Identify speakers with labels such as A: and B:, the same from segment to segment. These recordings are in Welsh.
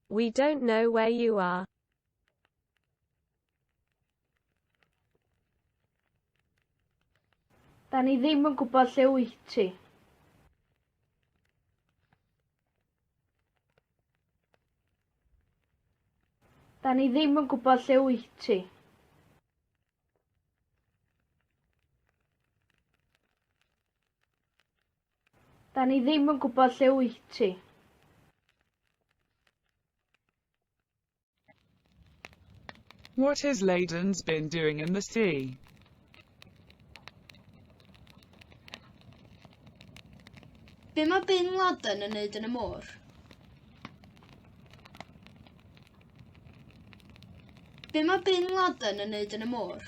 A: We don't know where you are. Da ni ddim yn gwybod lle wyt ti. Da ni ddim yn gwybod lle wyt ti. Da ni ddim yn gwybod lle wyt ti. What has Leiden's been doing in the sea? Be mae Bin Laden yn neud yn y môr? Be mae Bin Laden yn neud yn y môr?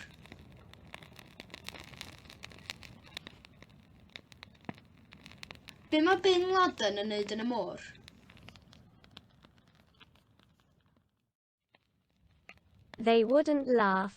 A: Be mae Bin Laden yn neud yn y môr? They wouldn't laugh.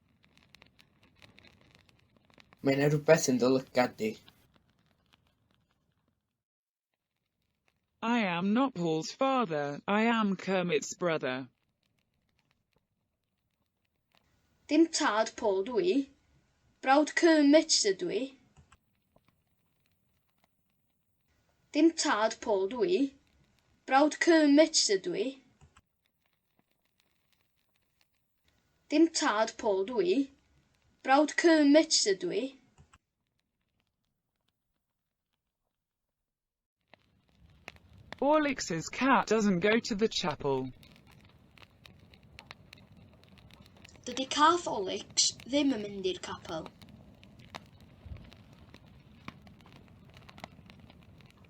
A: Mae yna rhywbeth yn dy lygad di. I am not Paul's father, I am Kermit's brother. Dim tad Paul dw i, brawd Kermit ydw i. Dim tad Paul dw i, brawd Kermit ydw i. Dim tad Paul dw i. Brawd Kermit ydw i. Alex's cat doesn't go to the chapel. Dydy cath Olex ddim yn mynd i'r capel.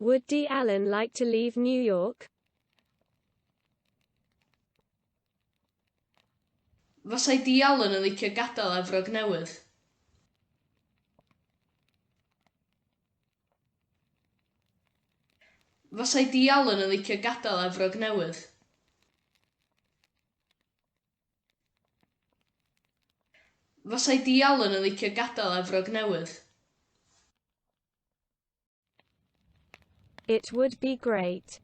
A: Would Dee Allen like to leave New York? Fasai Dee Allen yn licio gadael Efrog Newydd? Fasai Dee Allen yn licio gadael Efrog Newydd? Fasai Dee Allen yn licio gadael Efrog Newydd. It would be great.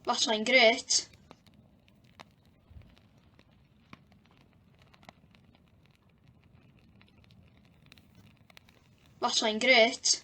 A: Fasai'n grêt. Fasai'n grêt.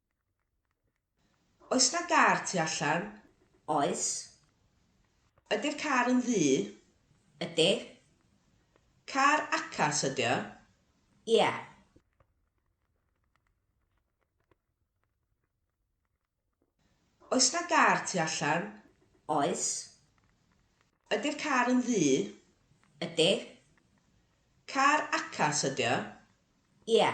A: Oes 'na gar tu allan? Oes. Ydi'r car yn ddu? Ydi. Car acas ydi o? Ie. Oes 'na gar tu allan? Oes. Ydi'r car yn ddu? Ydi. Car acas ydi o? Ie.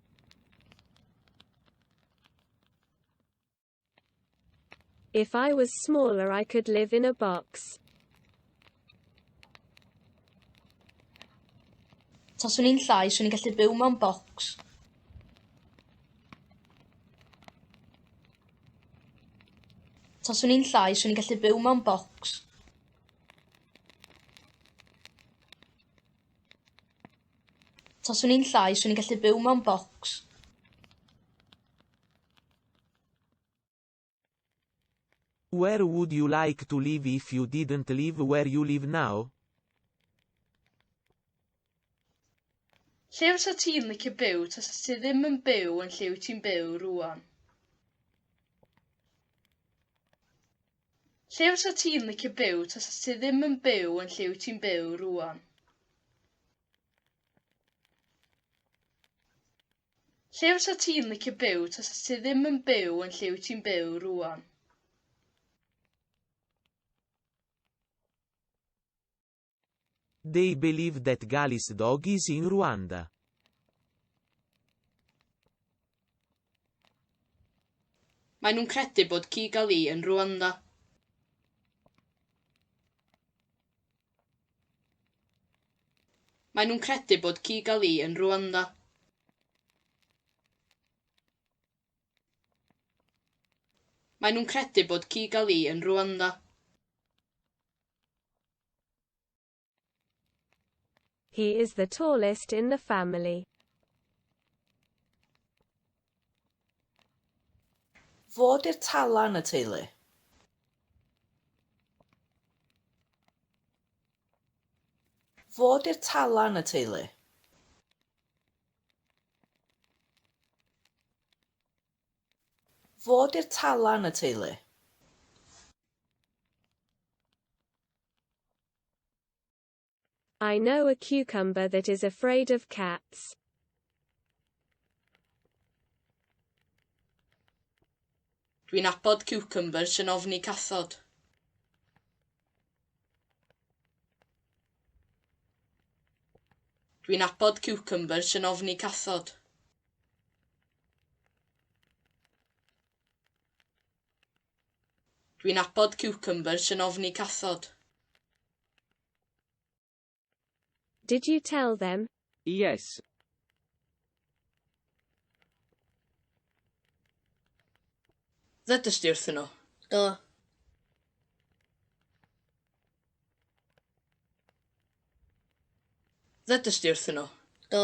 A: If I was smaller I could live in a box. Taswn i'n llai, swn i'n gallu byw mewn bocs. Taswn i'n llai, swn i'n gallu byw mewn bocs. Taswn i'n llai, swn i'n gallu byw mewn bocs. Where would you like to live if you didn't live where you live now? Lle fysa ti'n licio byw tas ti ddim yn byw yn lle wyt ti'n byw rwan? Lle fysa ti'n licio byw tasa ti ddim yn byw yn lle wyt ti'n byw rŵan? Lle fysa ti'n licio byw tasa ti ddim yn byw yn lle wyt ti'n byw rŵan? They believe that Gali's dog is in Rwanda. Mae nhw'n credu bod Kigali yn Rwanda. Mae nhw'n credu bod Kigali yn Rwanda. Mae nhw'n credu bod Kigali yn Rwanda. He is the tallest in the family. Fo di'r tala yn y teulu. Fo di'r tala yn y teulu. Fod i'r tala yn y teulu. I know a cucumber that is afraid of cats. Dwi'n abod ciwcymbyrs sy'n ofni cathod. Dwi'n abod ciwcymbyrs sy'n ofni cathod. Dwi'n abod cucumbers yn ofni cathod. Did you tell them? Yes. Ddedys di wrthyn nhw? Do. Ddedys di wrthyn nhw? Do.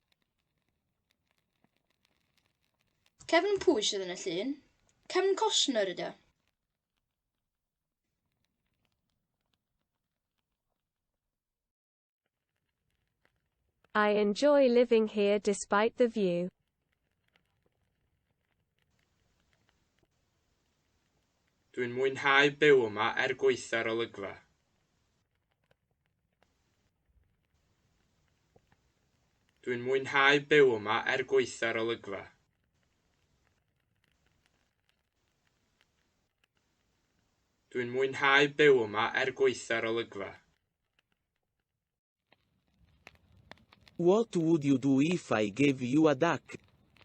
A: Kevin pwy sydd yn y llun? Kevin Costner ydy o. I enjoy living here despite the view. Dwi'n mwynhau byw yma er gweithio'r olygfa. Dwi'n mwynhau byw yma er gwaetha'r olygfa. Dwi'n mwynhau byw yma er gwaetha'r olygfa. What would you do if I gave you a duck?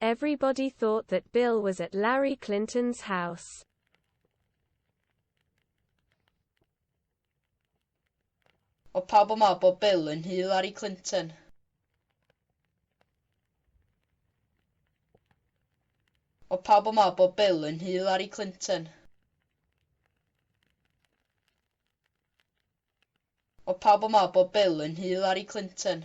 A: Everybody thought that Bill was at Larry Clinton's house. O pawb yn meddwl bod Bill yn nhŷ Larry Clinton. O pawb yn meddwl bod Bill yn nhŷ Larry Clinton. Mae pawb yn meddwl bod Bill yn Hillary Clinton.